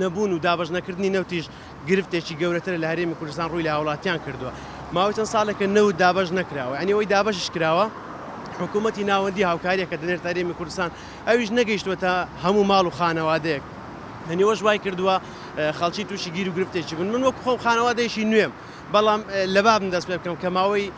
نەبوون و دابەش نەکردنی نەوتیش گرفتێکی گەورەترە لە هەرێمی کوردستان ڕووی لە هاوڵاتیان کردووە ماوەی چەند ساڵێکە نەوت دابەش نەکراوە یعنی ئەوەی دابەشش کراوە حکوومەتی ناوەندی هاوکاریەکە دەنێت هەرێمی کوردستان ئەویش نەگەیشتوە تا هەموو ماڵ و خانەوادەیەک هەنیوەش وای کردووە خەڵکی تووشی گیر و گرفتێکی بن من وەک خۆم خانەوادەیەکی نوێم بەڵام لەبابم دەست پێ بکەم کە ماوەی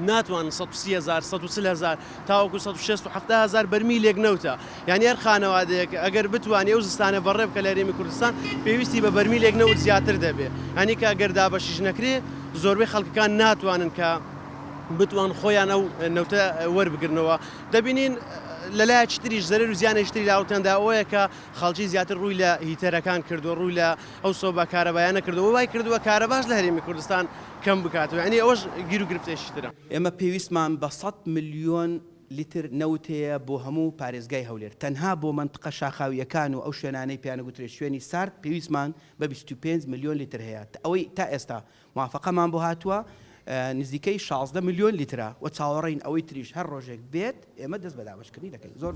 ناتوانن سەد و سی هەزار، سەد و چل هەزار تاوەکو سەد و شێست و حەفتا هەزار بەرمیلێک نەوتە، یانی هەر خانەوادەیەک ئەگەر بتوانی ئەو زستانە بەڕێ بکە لە هەرێمی کوردستان پێویستی بە بەرمیلێک نەوت زیاتر دەبێ، یانی کە گەر دابەشیش نەکرێ زۆربەی خەڵکەکان ناتوانن کە بتوان خۆیان ئەو نەوتە وەربگرنەوە، دەبینین لە لایەکی تریش زەرەر و زیانێکی تری لاوەکاندا ئەوەیە کە خەڵکی زیاتر ڕووی لە هیتەرەکان کردووە، ڕووی لە ئەو سۆبا کارەبایانە کردووە، وای کردووە کارەباش لە هەرێمی کوردستان کەم بکاتەوە یانی ئەوەش گیرو گرفتێکی ترە. ئێمە پێویستمان بە سەد ملیۆن لیتر نەوت هەیە بۆ هەموو پارێزگای هەولێر تەنها بۆ مەنتقە شاخاوییەکان و ئەو شوێنانەی پێیان ئەگوترێت شوێنی سارد پێویستمان بە بیست و پێنج ملیۆن لیتر هەیە ئەوەی تا ئێستا موافەقەمان بۆ هاتووە نزیکەی شازدە ملیۆن لیترە و چاوەڕێین ئەوەی تریش هەر ڕۆژێک بێت ئێمە دەست بە دابەشکردنی دەکەین.